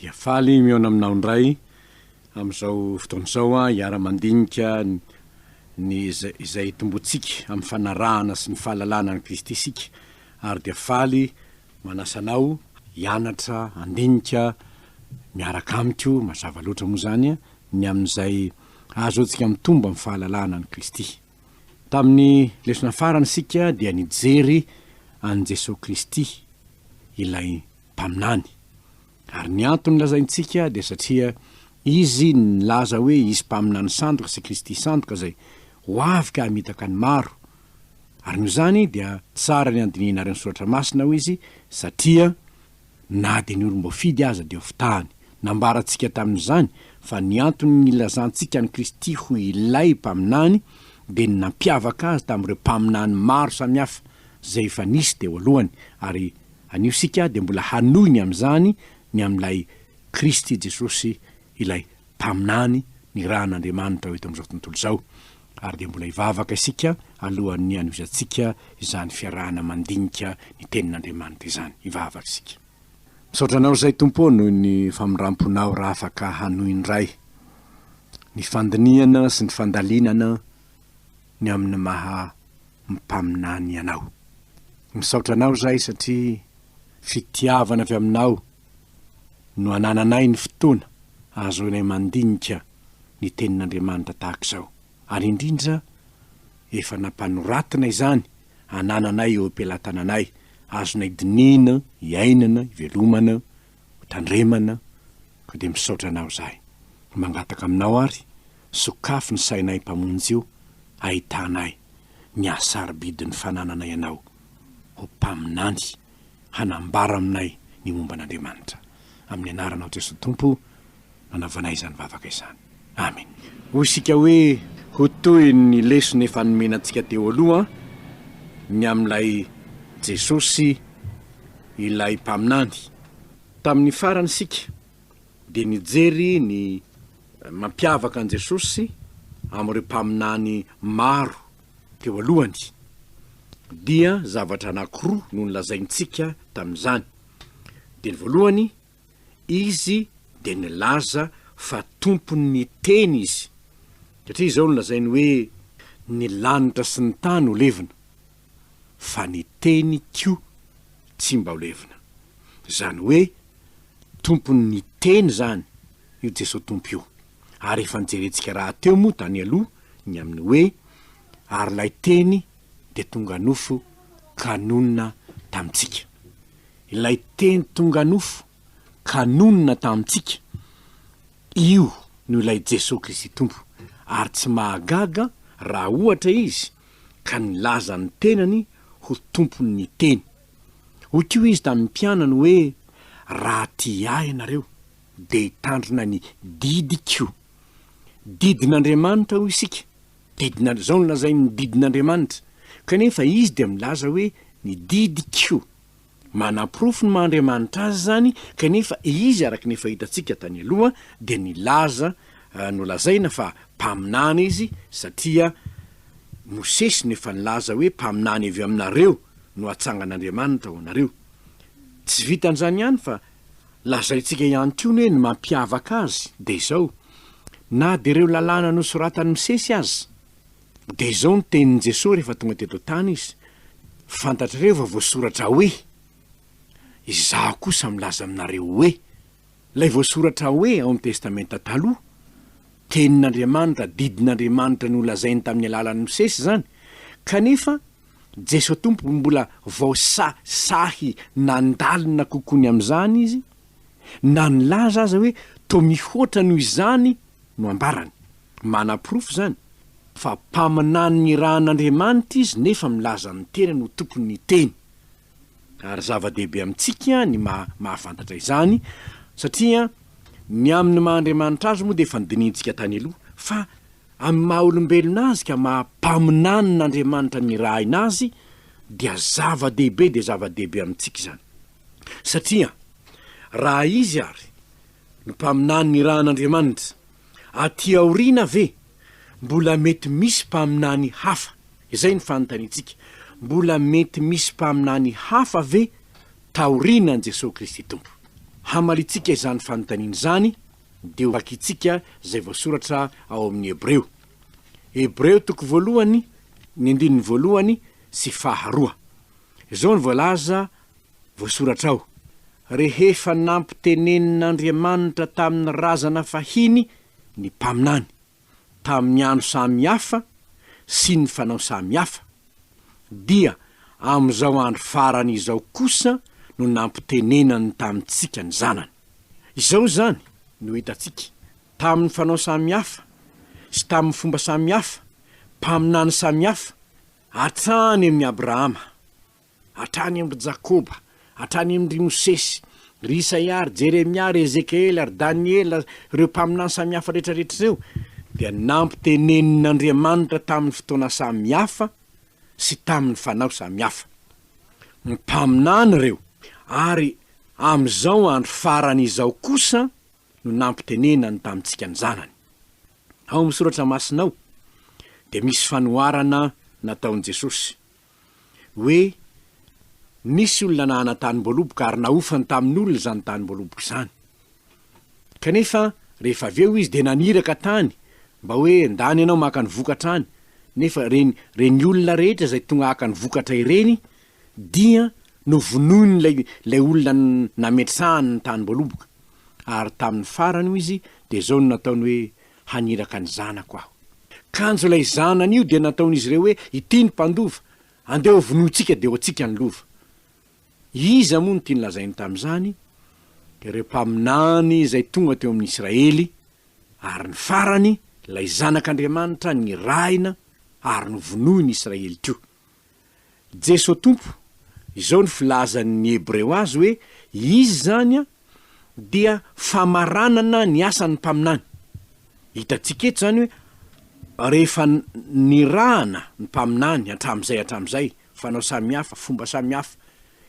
Dia faly mihaona aminao indray amin'izao fotoana izao aho hiara-mandinika ny izay itomboantsika amin'ny fanarahana sy ny fahalalana an'i Kristy isika ary dia faly manasa anao hianatra handinika miaraka amiko, mazava loatra moa izany ny amin'izay ahazoantsika mitombo amin'ny fahalalana an'i Kristy. Tamin'ny lesona farany isika dia nijery an'i Jesoa Kristy ilay mpaminany. Ary ny antony lazaintsika dia satria Izy nilaza hoe hisy mpaminany sandoka sy Kristy sandoka izay ho avy ka hamitaka ny maro. Ary noho izany dia tsara ny handinihinareo ny Soratra Masina, hoy Izy, satria na dia ny olom-boafidy aza dia hofitahany. Nambarantsika tamin'izany fa ny antony nilazantsika an'i Kristy ho ilay Mpaminany dia ny nampiavaka Azy tamin'ireo mpaminany maro samihafa izay efa nisy teo alohany, ary Anio isika dia mbola hanohy ny amin'izany ny amin'ilay Kristy Jesosy ilay Mpaminany nirahan'Andriamanitra ho eto amin'izao tontolo izao, ary dia mbola hivavaka isika alohan'ny hanovizantsika izany fiarahana mandinika ny Tenin'Andriamanitra izany. Hivavaka isika. Misaotra Anao izay Tompo ô noho ny famindram-ponao raha afaka hanohy indray ny fandinihana sy ny fandalinana ny amin'ny maha mpaminany anao. Misaotra anao zahay satria fitiavana avy aminao no anananay ny fotoana ahazoanay mandinika ny tenin'Andriamanitra tahaka izao. Ary indrindra efa nampanoratina izany anananay eo am-pelatananay, azonay dinihina, iainana, ivelomana, hotandremana, koa dia misaotra anao zahay. Mangataka aminao ary. Sokafy ny sainay Mpamonjy o, ahitana ahy, ny haha-sarobidin'ny fananana Ianao ho Mpaminany hanambara aminay ny momba an'Andriamanitra. Amin'ny Anaranao Jesoa Tompo no anaovanay izany vavaka izany. Amen. Hoy isika hoe, Ho toy ny lesona efa nomena antsika teo aloha ny amin'ilay Jesosy ilay Mpaminany. Tamin'ny farany isika dia nijery ny mampiavaka an'i Jesosy amin'ireo mpaminany maro teo alohany, dia zavatra anankiroa no nolazaintsika tamin'izany. Dia ny voalohany, Izy dia nilaza fa Tompon'ny Teny Izy, satria izao no lazainy hoe, Ny lanitra sy ny tany ho levona. fa ny teny ko tsy mba levona. Zany hoe tompon ny teny zany io Jeso Tompo io. Ary efa nijerentsika raha teo moa tany aloha ny amin ny hoe ary lay teny dia tonga nofo ka nonina tamintsika. Ilay teny tonga nofo ka nonina tamintsika io no ilay Jeso Kristy Tompo. Ary tsy mahagaga raha ohatra izy ka nilaza ny tenany ho tompon' ny teny. Hoy koa izy tamin'ny mpianany hoe, Raha tia ahy ianareo, dia hitandrina ny didiko. Didin' Andriamanitra hoy isika, didina, izao no lazain'ny didin' Andriamanitra, kanefa izy dia milaza hoe ny didiko. Manaporofo ny maha Andriamanitra Azy izany, kanefa Izy, araka ny efa hitantsika tany aloha, dia nilaza, nolazaina fa mpaminany Izy, satria Mosesy no efa nilaza hoe mpaminany avy aminareo no hatsangan'Andriamanitra ho anareo. Tsy vitan'izany ihany fa lazaintsika ihany koa ny hoe ny mampiavaka Azy dia izao, na dia ireo lalàna nosoratan'i Mosesy aza, Dia izao ny tenin'i Jesoa rehefa tonga teto an-tany Izy, Fantatrareo fa voasoratra hoe, Izaho kosa milaza aminareo hoe. Ilay voasoratra hoe ao amin'ny Testamenta Taloha, tenin'Andriamanitra, didin'Andriamanitra nolazainy tamin'ny alalan'i Mosesy izany, kanefa Jesoa Tompo mbola voasahisahy nandalina kokoa ny amin'izany Izy, na nilaza aza hoe toa mihoatra noho izany no ambarany. Manaporofo izany fa mpaminany nirahan'Andriamanitra izy nefa milaza ny tenany ho tompon'ny Teny. Ary zava-dehibe amintsika ny maha mahafantatra izany satria ny amin'ny maha Andriamanitra Azy moa dia efa nodinihintsika tany aloha, fa amin'ny maha olombelona Azy ka maha mpaminanin'Andriamanitra nirahina Azy dia zava-dehibe dia zava-dehibe amintsika izany. Satria raha Izy ary Ny mpaminany nirahan'Andriamanitra. Aty aoriana ve mbola mety misy mpaminany hafa? Izay ny fanontaniantsika. Mbola mety misy mpaminany hafa ve taoriana an'i Jesoa Kristy Tompo? Hamaliantsika izany fanontaniana izany dia hovakintsika izay voasoratra ao amin'ny Hebreo. Hebreo toko voalohany, ny andininy voalohany sy faharoa. Izao no voalaza Voasoratra ao, Rehefa nampitenenin'Andriamanitra tamin'ny razana fahiny ny mpaminany, tamin'ny andro samy hafa sy ny fanao samy hafa, dia amin'izao andro farany izao kosa no nampitenenany tamintsika ny Zanany. Izao izany no hitantsika, tamin'ny fanao samy hafa sy tamin'ny fomba samy hafa, mpaminany samy hafa, hatrany amin'i Abrahama, hatrany amin-dry Jakoba, hatrany amin-dry Mosesy, ry Isaia, ry Jeremia, ry Ezekiela, ry Daniela, ireo mpaminany samihafa rehetrarehetra ireo, dia nampitenenin'Andriamanitra tamin'ny fotoana samihafa sy tamin'ny fanao samihafa. Mpaminany ireo, ary amin'izao andro farany izao kosa no nampitenenany tamintsika ny Zanany. Ao amin'ny Soratra Masina ao dia misy fanoharana nataon'i Jesosy. hoe nisy olona nahana tanim-boaloboka ary nahofany tamin'olona izany tanim-boaloboka izany. Kanefa rehefa avy eo izy dia naniraka tany mba hoe ndany ianao maka ny vokatra any, nefa ireny ireny olona rehetra izay tonga haka ny vokatra ireny dia novonoin'ilay ilay olona nametrahany ny tanim-boaloboka. Ary tamin'ny farany, hoy izy, dia izao no nataony hoe haniraka ny zanako aho. Kanjo ilay zanany io dia nataon'izy ireo hoe, Ity ny mpandova, andeha hovonointsika dia ho antsika ny lova. Iza moa no tiany lazainy tamin'izany? Ireo mpaminany izay tonga teo amin'ny Israely, ary ny farany, ilay Zanak'Andriamanitra nirahina ary novonoin'ny Israely koa. Jeso Tompo, izao ny filazan' ny Hebreo azy hoe izy izany dia famaranana ny asan' ny mpaminany. Hitantsika eto izany hoe rehefa nirahana ny mpaminany hatramin'izay hatramin'izay, fanao samihafa, fomba samihafa,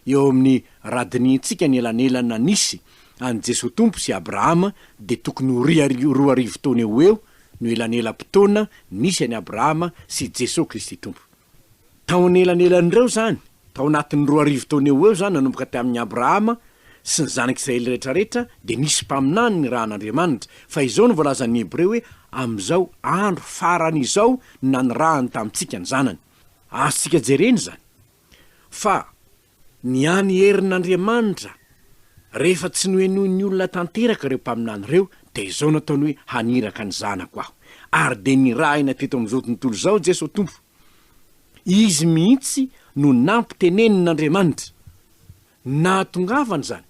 eo amin'ny radinihintsika ny elanelana nisy an'i Jesoa Tompo sy Abrahama dia tokony ho roa arivo taona eo ho eo no elanelam-potoana nisy an'i Abrahama sy Jesoa Kristy Tompo. Tao anelanelan'ireo izany, tao anatin'ny roa arivo taona eo ho eo izany nanomboka tamin'i Abrahama sy ny zanak'Israely rehetrarehetra dia nisy mpaminany nirahan'Andriamanitra, fa izao no voalazan'ny Hebreo hoe amin'izao andro farany izao no nanirahany tamintsika ny Zanany. Azontsika jerena izany. Fa ny any herin'Andriamanitra, rehefa tsy nohenoin'ny olona tanteraka ireo mpaminany ireo, dia izao nataony hoe, Haniraka ny Zanako aho. Ary dia nirahina teto amin'izao tontolo izao Jeso Tompo. Izy mihitsy no nampitenenin'Andriamanitra. Nahatongavany izany,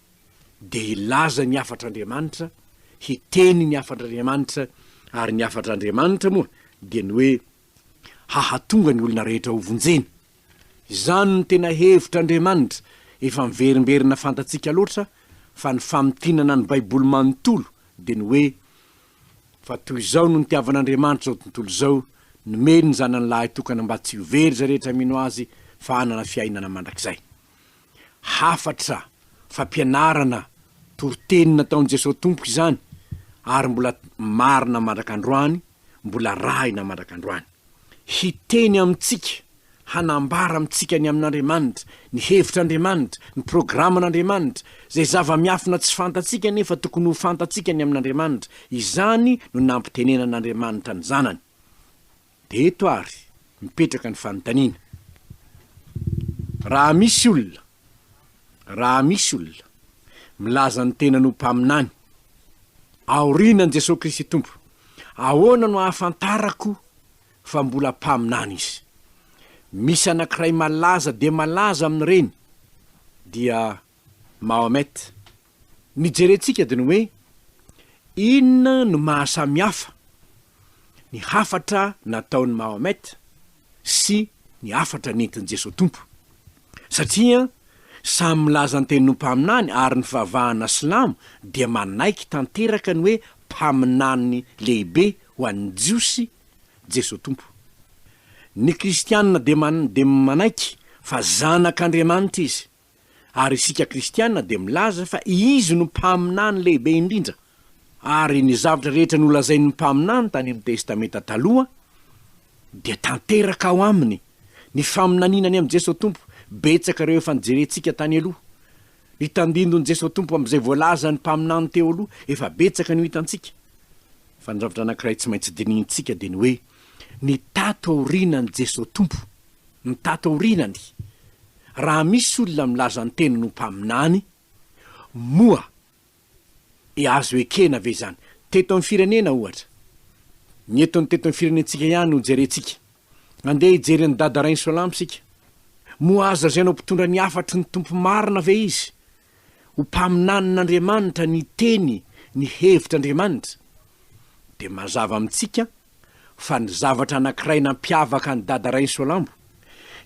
dia hilaza ny hafatr'Andriamanitra, hiteny ny hafatr'Andriamanitra, ary ny hafatr'Andriamanitra moa dia ny hoe, hahatonga ny olona rehetra ho vonjena. Izany no tena hevitr' Andriamanitra efa miverimberina fantatsika loatra fa ny famintinana ny Baiboly manontolo dia ny hoe, Fa toy izao no nitiavan' Andriamanitra izao tontolo izao, nomeny ny Zanany Lahitokana mba tsy ho very izay rehetra mino Azy fa hanana fiainana mandrakizay. Hafatra fampianarana toriteny nataon'i Jesoa Tompo izany ary mbola marina mandrak'androany, mbola arahina mandrak'androany. Hiteny amintsika, hanambara amintsika ny amin'Andriamanitra, ny hevitr'Andriamanitra, ny programan'Andriamanitra, izay zava-miafina tsy fantatsika nefa tokony ho fantatsika ny amin'Andriamanitra, izany no nampitenenan'Andriamanitra ny Zanany. Dia eto ary mipetraka ny fanontaniana. Raha misy olona, raha misy olona milaza ny tenany ho mpaminany, aorianan'i Jesoa Kristy Tompo, ahoana no ahafantarako fa mbola mpaminany izy? Misy anankiray malaza dia malaza amin'ireny, dia Mahomet. ny jerentsika dia ny hoe inona no maha samihafa ny hafatra nataon'i Mahomet sy ny hafatra nentin'i Jesoa Tompo. Satria samy milaza ny tenin'ho mpaminany ary ny fivavahana silamo dia manaiky tanteraka ny hoe mpaminany lehibe ho an'ny Jiosy Jesoa Tompo. Ny kristiana dia manaiky fa zanak'Andriamanitra izy. ary isika kristiana dia milaza fa Izy no Mpaminany lehibe indrindra, ary ny zavatra rehetra nolazain'ny mpaminany tany amin'ny Testamenta Taloha dia tanteraka ao Aminy, ny faminaniana ny amin'i Jesoa Tompo, betsaka ireo efa nijerentsika tany aloha, ny tandindon'i Jesoa Tompo amin'izay voalazan'ny mpaminany teo aloha, efa betsaka no hitantsika. Fa ny zavatra anankiray tsy maintsy dinihintsika dia ny hoe, Ny tato aorianan'i Jesoa Tompo, ny tato aorianany, raha misy olona milaza ny teniny ho mpaminany, moa e azo ekena ve izany? Teto amin'ny firenena ohatra, ny eto ny teto amin'ny firenentsika ihany no jerentsika. Andeha hijery an'i Dada Rainsoalamo isika. Moa azo lazaina ho mpitondra ny hafatry ny Tompo marina ve izy? ho mpaminanin'Andriamanitra ny Teny, ny hevitr'Andriamanitra, dia mazava amintsika fa ny zavatra anankiray nampiavaka an'i Dada Rainsoalambo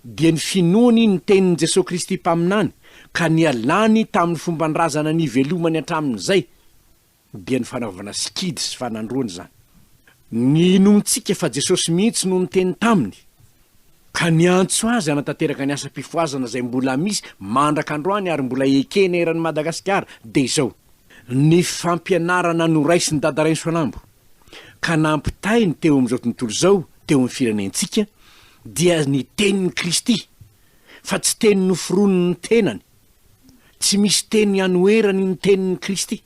dia ny finoany ny Tenin'i Jesoa Kristy Mpaminany ka nialany tamin'ny fomban-drazana nivelomany hatramin'izay, dia ny fanaovana sikidy sy fanandroana izany. Ninoantsika fa Jesosy mihitsy no niteny taminy, ka niantso azy hanatanteraka ny asam-pifohazana izay mbola misy mandraka androany ary mbola ekena eran'i Madagasikara, dia izao, ny fampianarana noraisin'i Dada Rainisoanambo, ka nampitainy teo amin'izao tontolo izao, teo amin'ny firenentsika, dia ny tenin'i Kristy, fa tsy teny noforonin'ny tenany, Tsy misy teny anoherany ny tenin'i Kristy,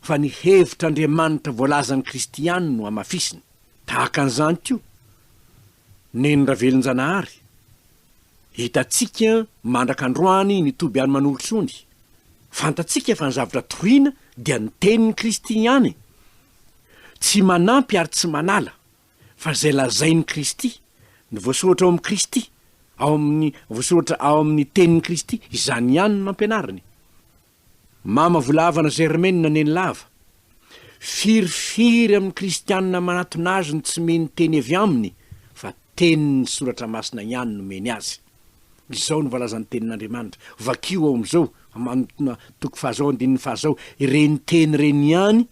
fa ny hevitr'Andriamanitra voalazan'i Kristy ihany no hamafisiny. Tahaka an'izany koa, neny Ravelonjanahary, Hitantsika mandraka androany ny toby any Manolotrony. Fantatsika fa ny zavatra toriana dia ny tenin'i Kristy ihany. Tsy manampy ary tsy manala. fa izay lazain'i Kristy, ny voasoratra ao amin'i Kristy, ao amin'ny voasoratra ao amin'ny tenin'i Kristy, izany ihany no ampianariny. Mama volavana Germaine Nenilava, firifiry amin'ny kristiana manatona azy no tsy mino teny avy aminy fa tenin'ny soratra masina ihany no omeny azy. Izao no voalazan'ny tenin'Andriamanitra, vakio ao amin'izao, manotona toko fahazao andininy fahazao, ireny teny ireny ihany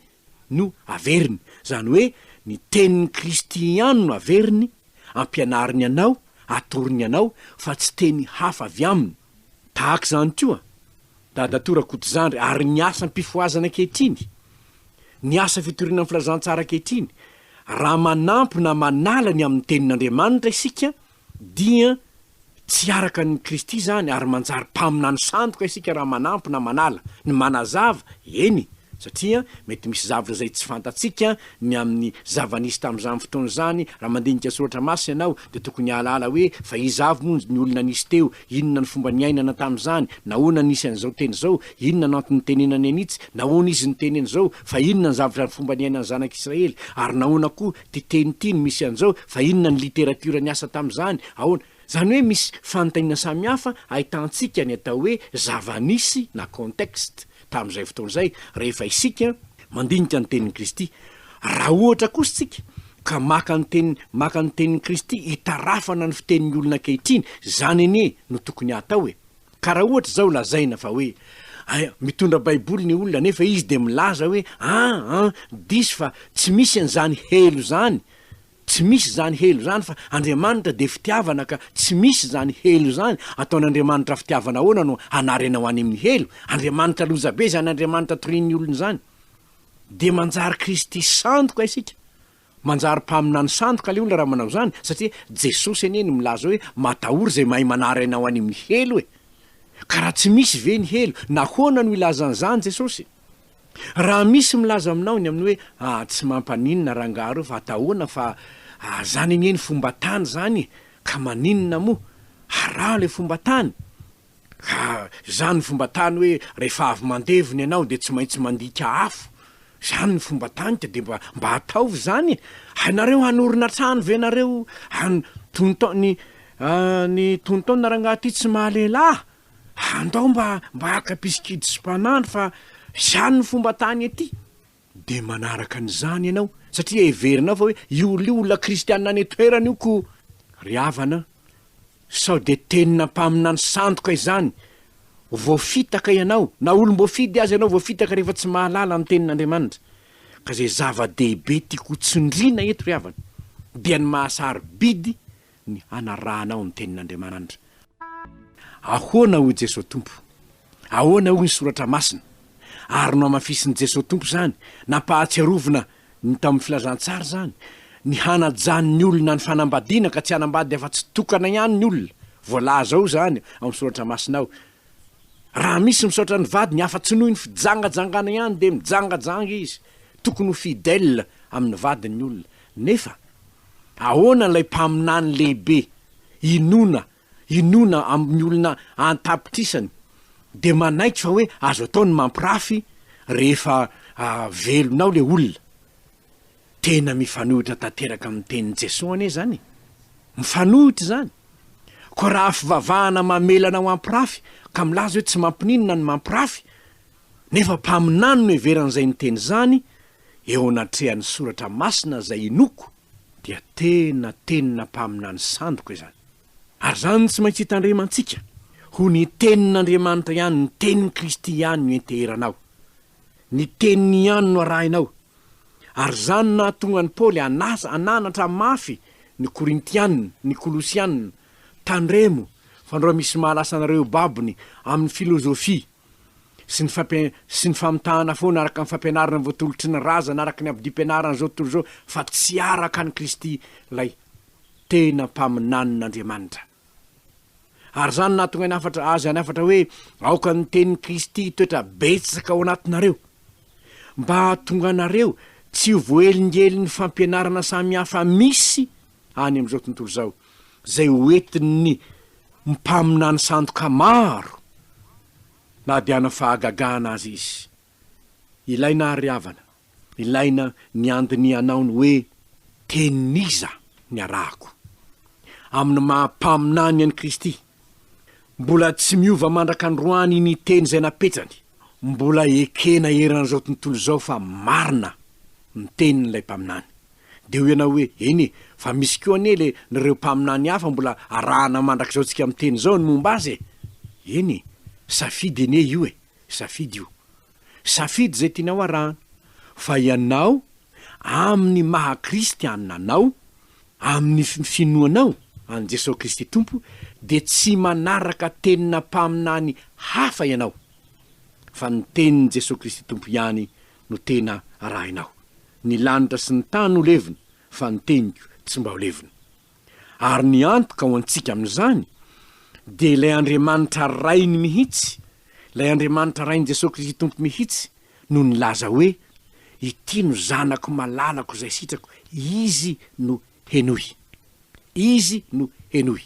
no averiny, izany hoe ny tenin'i Kristy ihany no averiny, ampianariny anao, atorony anao, fa tsy teny hafa avy aminy. Tahaka izany koa Dadatoa Rakotozandry ary ny asam-pifohazana ankehitriny, ny asa fitoriana ny filazantsara ankehitriny, raha manampy na manala ny amin'ny tenin'Andriamanitra isika Dia tsy araka an'i Kristy izany, ary manjary mpaminany sandoka isika raha manampy na manala ny manazava, eny, satria mety misy zavatra izay tsy fantatsika ny amin'ny zava-nisy tamin'izany fotoana izany, raha mandinika Soratra Masina ianao dia tokony hahalala hoe fa iza avy moa ny olona nisy teo, inona ny fomba niainana tamin'izany, nahoana nisy an'izao teny izao, inona no antony nitenenany an'itsy, nahoana izy niteny an'izao, fa inona ny zavatra ny fomba niainan'ny zanak'Israely, ary nahoana koa Ty teny ty no misy an'izao, fa inona ny literatiora niasa tamin'izany? Ahoana? Izany hoe misy fanontaniana samihafa ahitantsika ny atao hoe zava-nisy na contexte tamin'izay fotoana izay rehefa isika mandinika ny tenin'i Kristy. Raha ohatra kosa isika ka maka ny teny maka ny tenin'i Kristy hitarafana ny fitenin'ny olona ankehitriny, izany anie no tokony hatao e! Ka raha ohatra izao lazaina fa hoe aia mitondra baiboly ny olona nefa izy dia milaza hoe ah an diso fa tsy misy an'izany helo zany tsy misy izany helo zany fa Andriamanitra dia fitiavana ka tsy misy izany helo izany ataon'Andriamanitra fitiavana ahoana no hanarenao any amin'ny helo Andriamanitra lozabe izany Andriamanitra torian'ny olona izany dia manjary kristy sandoka isika Manjary mpaminany sandoka le olona raha manao zany satria Jesosy anie no milaza hoe matahory izay mahay manary anao any amin'ny helo e! Ka raha tsy misy ve ny helo nahoana no ilazany zany Jesosy? Raha misy milaza aminao ny amin'ny hoe ah tsy mampaninona rangaha reo fa atahoana fa ah zany anie ny fomba tany zany e! ka maninona moa? araho le fomba tany! Ka zany fomba tany hoe rehefa avy mandevina ianao dia tsy maintsy mandika afo? Zany ny fomba tany ka dia mba mba ataovy zany e! Hainareo hanorina trano ve nareo an tonton ny an ny tonton na rangaha ty tsy mahalehilahy? Andao mba mba haka pisikidisy mpanandro fa zany ny fomba tany ety. Dia manaraka an'izany ianao, satria heverinao fa hoe io lio olona kristiana any an-toerana io ko! Ry havana an! Sao dia tenina mpaminany sandoka izany? Voafitaka ianao, na olom-boafidy aza ianao, voafitaka rehefa tsy mahalala ny Tenin'Andriamanitra. Ka izay zava-dehibe tiako ho tsindriana eto, ry havana, dia ny maha-sarobidy ny hanarahanao ny tenin'Andriamanandra. Ahoana hoy Jesoa Tompo? Ahoana hoy ny Soratra Masina? Ary nohamafisin'i Jesoa Tompo izany, nampahatsiarovina ny tao amin'ny Filazantsara izany, ny hanajan'ny olona ny fanambadiana ka tsy hanambady afa-tsy tokana ihany ny olona. Voalaza ao izany ao amin'ny Soratra Masina ao, Raha misy misaotra ny vadiny afa-tsy noho ny fijangajangana ihany dia mijangajanga izy. Tokony ho fidèle amin'ny vadiny ny olona. Nefa. Ahoana ilay mpaminany lehibe inoana inoana amin'ny olona an-tapitrisany dia manaiky fa hoe azo atao ny mampirafy rehefa velona ao ilay olona? Tena mifanohitra tanteraka amin'ny tenin'i Jesoa anie izany e! Mifanohitra izany! Koa raha fivavahana mamela anao hampirafy ka milaza hoe tsy mampininona ny mampirafy, nefa mpaminany no heveran'izay niteny izany, eo anatrehan'ny soratra masina izay inoako dia tena tenina mpaminany sandoka izany. Ary izany no tsy maintsy hitandremantsika, ho ny tenin'Andriamanitra ihany, ny tenin'i Kristy ihany no enteheranao. Ny teniny ihany no arahinao. Ary izany no nahatonga an'i Paoly hanasa hananatra mafy ny Korintiana, ny Kolosiana, Tandremo, fa ndreo misy mahalasa anareo eo babony amin'ny filozofia. sy ny fampi sy ny famitahana foana araka ny fampianarana voatolotry ny razana araka ny abdiam-pianarana izao tontolo izao fa tsy araka an'i Kristy ilay tena mpaminanin'Andriamanitra. Ary izany nahatonga ny hafatra azy any hafatra hoe aoka ny tenin'i Kristy hitoetra betsaka ao anatinareo mba hahatonga anareo tsy ho voahelingelin'ny fampianarana samihafa misy any amin'izao tontolo izao, izay hoentin'ny mpaminany sandoka maro na dia hanao fahagagana aza izy. Ilaina àry ry havana, ilaina ny handinihanao ny hoe tenin'iza ny arahako. Amin'ny maha mpaminany an'i Kristy, Mbola tsy miova mandraka androany ny teny izay napetsany. Mbola ekena eran'izao tontolo izao fa marina ny tenin'ilay mpaminany. Dia hoy ianao hoe, eny e, fa misy koa anie le n'ireo mpaminany hafa mbola arahana mandrakizao tsika miteny izao ny momba azy e! Eny e, safidy anie io e, safidy io. Safidy izay tianao arahana, fa ianao, amin'ny maha kristiana anao, amin'ny finoanao an'i Jesoa Kristy Tompo, dia tsy manaraka tenina mpaminany hafa ianao, fa ny tenin'i Jesoa Kristy Tompo ihany no tena arahinao. Ny lanitra sy ny tany ho levona, fa ny teniko tsy mba ho levona. ary ny antoka ho antsika amin'izany dia ilay Andriamanitra Rainy mihitsy, ilay Andriamanitra Rain'i Jesoa Kristy Tompo mihitsy no nilaza hoe, Ity no Zanako malalako izay sitrako, Izy no henoy. Izy no henoy.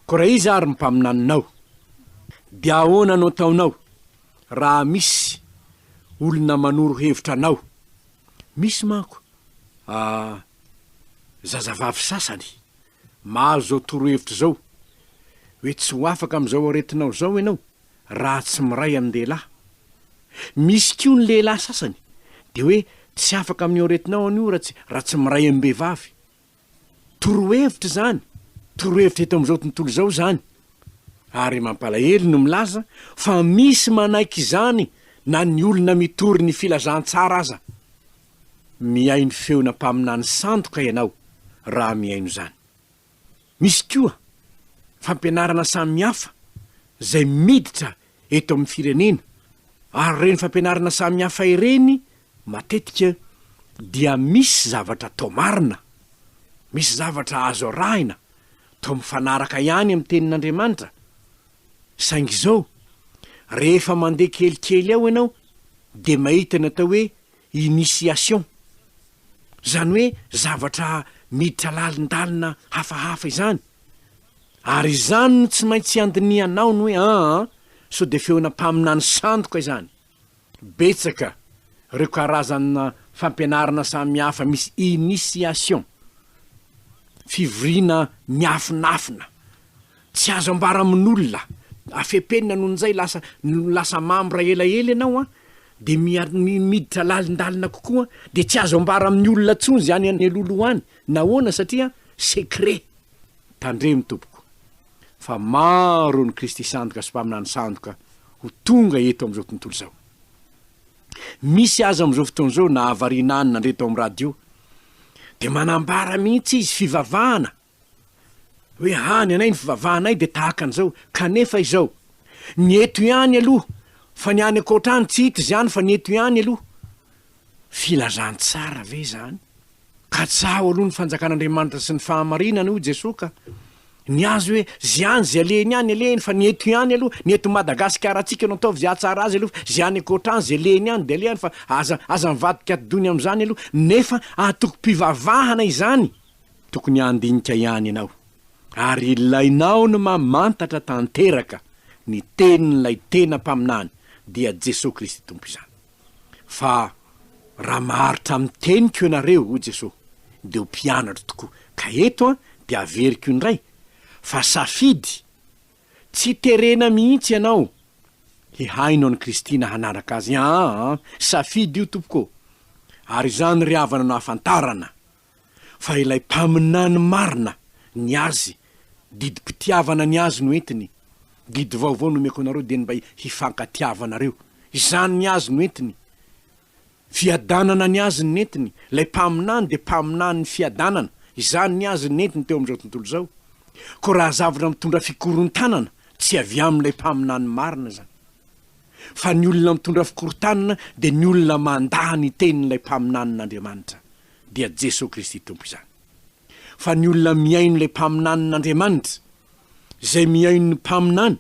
Koa raha iza ary ny mpaminaninao? Dia ahoana no ataonao raha misy olona manoro hevitra anao? Misy manko a zazavavy sasany mahazo izao torohevitra izao hoe tsy ho afaka amin'izao aretinao izao ianao raha tsy miray amin-dehilahy. Misy koa ny lehilahy sasany dia hoe tsy afaka amin'io aretinao anio raha tsy raha tsy miray amim-behivavy. Torohevitra izany, torohevitra eto amin'izao tontolo izao izany, ary mampalahelo no milaza fa misy manaiky izany na ny olona mitory ny filazantsara aza. Mihaino feona mpaminany sandoka ianao raha mihaino izany. Misy koa fampianarana samihafa izay miditra eto amin'ny firenena ary ireny fampianarana samihafa ireny matetika dia misy zavatra atao marina, misy zavatra azo arahina, toa mifanaraka ihany amin'ny tenin'Andriamanitra. Saingy izao, rehefa mandeha kelikely ao ianao dia mahita ny atao hoe initiation, izany hoe zavatra miditra lalindalina hafahafa izany, Ary izany no tsy maintsy iandinihanao ny hoe aa sao dia feona mpaminany sandoka izany. Betsaka reo karazana fampianarana samy hafa misy initiation, fivoriana miafinafina, tsy azo ambara amin'olona, afepenina noho nizay lasa lasa mambra elaela ianao an, dia mia miditra lalindalina kokoa dia tsy azo ambara amin'ny olona tsony zany any alohaloha any, nahoana satria secret. Tandremo tompoko fa maro ny Kristy sandoka sy mpaminany sandoka ho tonga eto amin'izao tontolo izao. Misy aza amin'izao fotoana izao na havariana any nandre tao amin'ny radio dia manambara mihitsy izy fivavahana hoe hany anay ny fivavahanay dia tahaka an'izao kanefa izao ny eto ihany aloha fa ny any ankoatra any tsy hita izany fa ny eto ihany aloha Filazantsara ve izany? Katsaho aloha ny fanjakan'Andriamanitra sy ny fahamarinany hoy Jesoa ka! Ny azy hoe zay any zay alehiny any alehiny fa ny eto ihany aloha ny eto Madagasikarantsika no ataovy zay ahatsara azy aloha fa zay any ankoatra any zay lehiny any dia alehany fa aza aza mivadika atdony amin'izany aloha nefa antokom-pivavahana izany tokony handinika ihany ianao ary ilainao ny mamantatra tanteraka ny tenin'ilay tena mpaminany dia Jesoa Kristy Tompo izany. Fa raha maharitra amin'ny teniko ianareo, hoy Jesoa, dia ho mpianatro tokoa. Ka eto dia averiko indray fa safidy, tsy terena mihitsy ianao hihaino an'i Kristy na hanaraka Azy. Aa, safidy io, tompoko ô! Ary izany ry havana no ahafantarana. fa ilay mpaminany marina ny azy didim-pitiavana ny azy no entiny didy vaovao nomeko anareo dia ny mba hifankatiavanareo izany ny azy no entiny fiadanana ny azy ny entiny ilay mpaminany dia mpaminany ny fiadanana izany ny azy ny entiny teo amin'izao tontolo izao ko raha zavatra mitondra fikorontanana tsy avy amin'ilay mpaminany marina izany fa ny olona mitondra fikorontanana dia ny olona mandà ny tenin'ilay mpaminanin'Andriamanitra dia Jesoa Kristy Tompo izany. Fa ny olona mihaino ilay mpaminanin'Andriamanitra, izay mihaino ny mpaminany,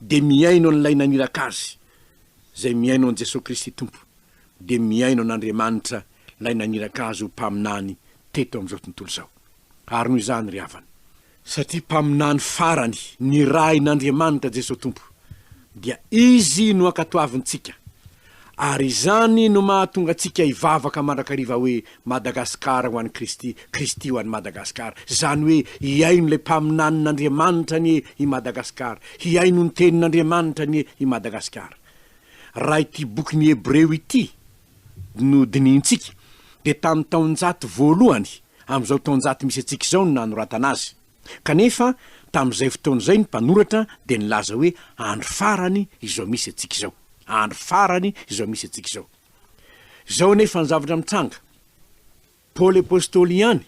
dia mihaino an'ilay naniraka azy, izay mihaino an'i Jesoa Kristy Tompo, dia mihaino an'Andriamanitra ilay naniraka azy ho mpaminany teto amin'izao tontolo izao. Ary noho izany, ry havana, Satria mpaminany farany nirahin'Andriamanitra Jesoa Tompo, dia Izy no ankatoavintsika, ary izany no mahatonga antsika hivavaka mandrakariva hoe Madagasikara ho an'i Kristy, Kristy ho an'i Madagasikara. Izany hoe hihaino ilay mpaminanin'Andriamanitra anie i Madagasikara, hihaino ny tenin'Andriamanitra anie i Madagasikara. Raha ity bokin'i Hebreo ity no dinihintsika, dia tamin'ny taonjato voalohany amin'izao taonjato misy antsika izao no nanoratana azy. Kanefa, tamin'izay fotoana izay ny mpanoratra dia nilaza hoe andro farany izao misy antsika izao. Andro farany izao misy antsika izao. Izao anefa ny zavatra mitranga. Paoly Apostoly ihany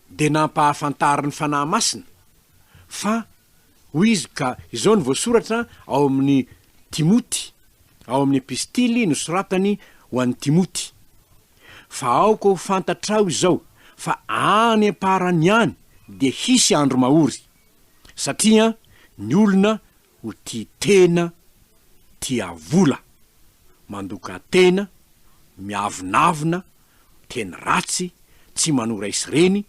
dia nampahafantarin'ny Fanahy Masina fa hoy izy ka izao no voasoratra ao amin'ny Timoty ao amin'ny Epistily nosoratany ho an'i Timoty, Fa aoka ho fantatrao izao fa any am-parany any dia hisy andro mahory, satria ny olona ho tia tena, tia vola, mandoka tena, miavonavona, miteny ratsy, tsy manora is reny,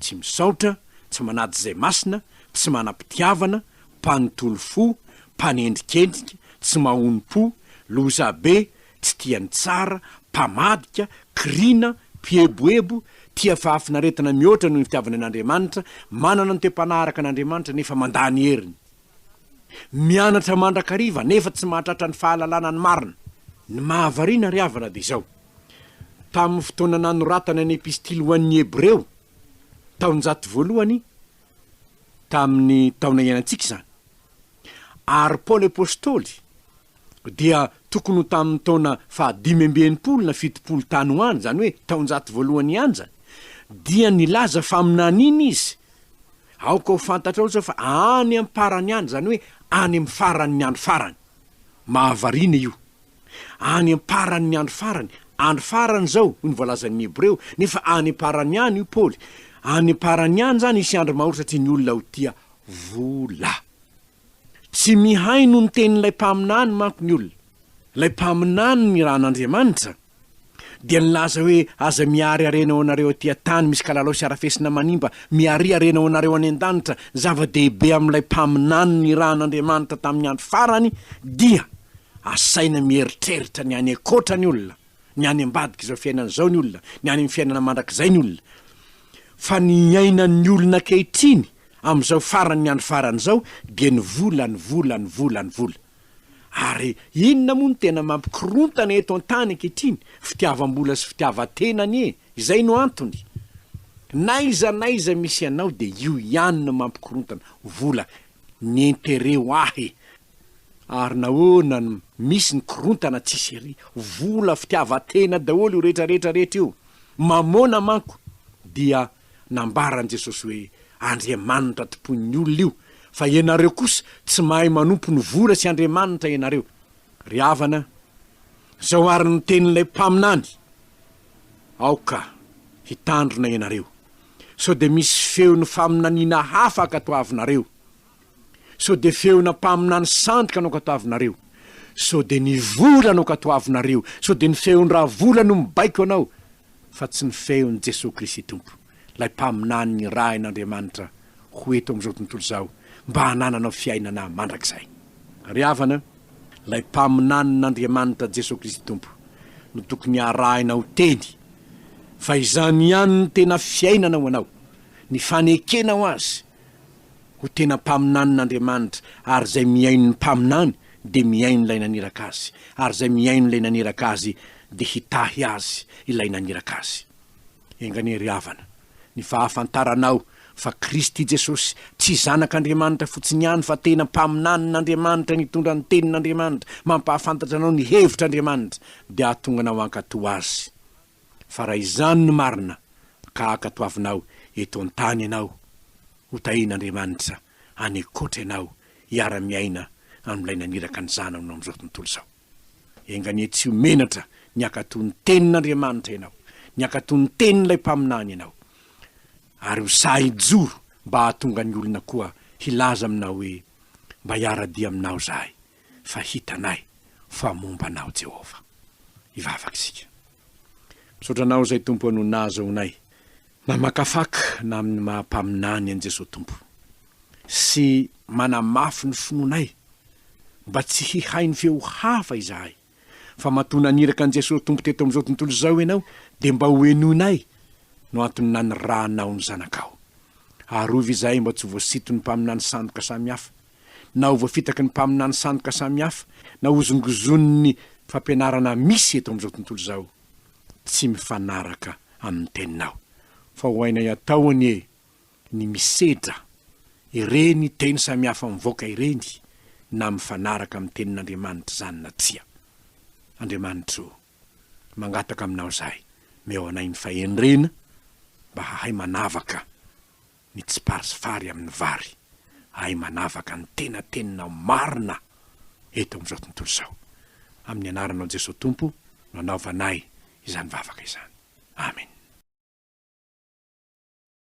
tsy misaotra, tsy manady izay masina, tsy manam-pitiavana, mpanontolo fo, mpanendrikendrika, tsy mahonom-po, lozabe, tsy tia ny tsara, mpamadika, kiriana, mpieboebo, tia fahafinaretana mihoatra noho ny fitiavany an'Andriamanitra, manana ny toe-panahy araka an'Andriamanitra nefa mandà ny heriny. Mianatra mandrakariva nefa tsy mahatratra ny fahalalana ny marina. Ny mahavariana ry havana dia izao, tamin'ny fotoana nanoratana ny Epistily ho an'ny Hebreo, taonjato voalohany tamin'ny taona iainantsika izany, ary Paoly Apostoly dia tokony ho tamin'ny taona fahadimy amby enimpolo na fitopolo tany ho any, izany hoe taonjato voalohany ihany izany, dia nilaza faminaniana izy Aoka ho fantatrao izao fa any am-parany any, izany hoe any amin'ny faran'ny andro farany. Mahavariana io. Any am-paran'ny andro farany. Andro farany izao, hoy ny voalazan'ny Hebreo, nefa any am-parany any, hoy Paoly. Any am-parany any izany hisy andro mahory satria ny olona ho tia vola. Tsy mihaino ny tenin'ilay mpaminany manko ny olona. Ilay mpaminany nirahan'Andriamanitra dia nilaza hoe, Aza miariarena ho anareo aty an-tany misy kalalao sy harafesina manimba, miariarena ho anareo any an-danitra. Ny zava-dehibe amin'ilay mpaminany nirahan'Andriamanitra tamin'ny andro farany dia, Asaina mieritreritra ny any an-koatra ny olona. ny any ambadik'izao fiainana izao ny olona, ny any amin'ny fiainana mandrakizay ny olona. Fa ny iainan'ny olona ankehitriny, amin'izao faran'ny andro farany izao, dia ny vola, ny vola, ny vola, ny vola. Ary inona moa no tena mampikorontana eto an-tany ankehitriny? Fitiavam-bola sy fitiavan-tena anie! Izay no antony. N'aiza n'aiza misy anao dia io ihany no mampikorontana, vola. Ny intérêt ho ahy, Ary nahoana no misy ny korontana tsisy ery? Vola, fitiavan-tena daholo io rehetra rehetra rehetra io. Mamôna manko dia nambaran'i Jesosy hoe andriamanitra tompoin'ny olona io, fa ianareo kosa tsy mahay manompo ny vola sy andriamanitra ianareo. Ry havana, izao ary no tenin'ilay mpaminany, Aoka hitandrina ianareo, sao dia misy feon'ny faminaniana hafa hankatoavinareo. Sao dia feona mpaminany sandoka no katoavinareo? Sao dia ny vola no katoavinareo? Sao dia ny feon-dRavola no mibaiko anao fa tsy ny feon'i Jesoa Kristy Tompo, ilay mpaminany nirahin'Andriamanitra ho eto amin'izao tontolo izao mba hanananao fiainana mandrakizay? Ry havana, ilay mpaminanin'Andriamanitra Jesoa Kristy Tompo no tokony harahina ho teny fa izany ihany no tena fiainana ho anao, ny fanekenao Azy, ho tena mpaminanin'Andriamanitra, ary izay mihaino ny mpaminany dia mihaino ilay naniraka azy, ary izay mihaino ilay naniraka azy dia hitahy azy ilay naniraka azy. Enganie ry havana, ny fahafantaranao fa Kristy Jesosy tsy Zanak'Andriamanitra fotsiny ihany fa tena mpaminanin'Andriamanitra nitondra ny tenin'Andriamanitra mampahafantatra anao ny hevitr'Andriamanitra dia hahatonga anao hankatò Azy. Fa raha izany no marina, ka ankatoavinao eto an-tany ianao, hotahian'Andriamanitra any an-koatra ianao hiara-miaina amin'ilay naniraka ny Zanany ho eo amin'izao tontolo izao. Enga anie tsy ho menatra ny hankatò ny Tenin'Andriamanitra ianao, ny hankatò ny Tenin'ilay Mpaminany ianao. Ary ho sahy hijoro mba hahatonga ny olona koa hilaza aminao hoe, Mba hiara-dia aminao izahay. fa hitanay fa momba Anao Jehovah hivavaka isika. Misaotra Anao izay Tompo no nahazoanay namakafaka na amin'ny maha mpaminany an'i Jesoa Tompo sy manamafy ny finoanay mba tsy hihaino feo hafa izahay. fa matoa naniraka an'i Jesosy Tompo teto amin'izao tontolo izao ianao, dia mba hohenoinay no antony nanirahanao ny zanakao. Arovy izahay mba tsy ho voasiton'ny mpaminany sandoka samihafa, na ho voafitaky ny mpaminany sandoka samihafa, na hozongozonin'ny fampianarana misy eto amin'izao tontolo izao, tsy mifanaraka amin'ny Teninao. Fa ho hainay atao anie ny misedra ireny teny samihafa mivoaka ireny na mifanaraka amin'ny tenin'Andriamanitra izany na tsia. Andriamanitra o, mangataka aminao izahay, meo anay ny fahendrena mba hahay manavaka ny tsipary sy fary amin'ny vary, hahay manavaka ny tena teninao marina eto amin'izao tontolo izao. Amin'ny anaranao Jesoa Tompo no anaovanay izany vavaka izany. Amena.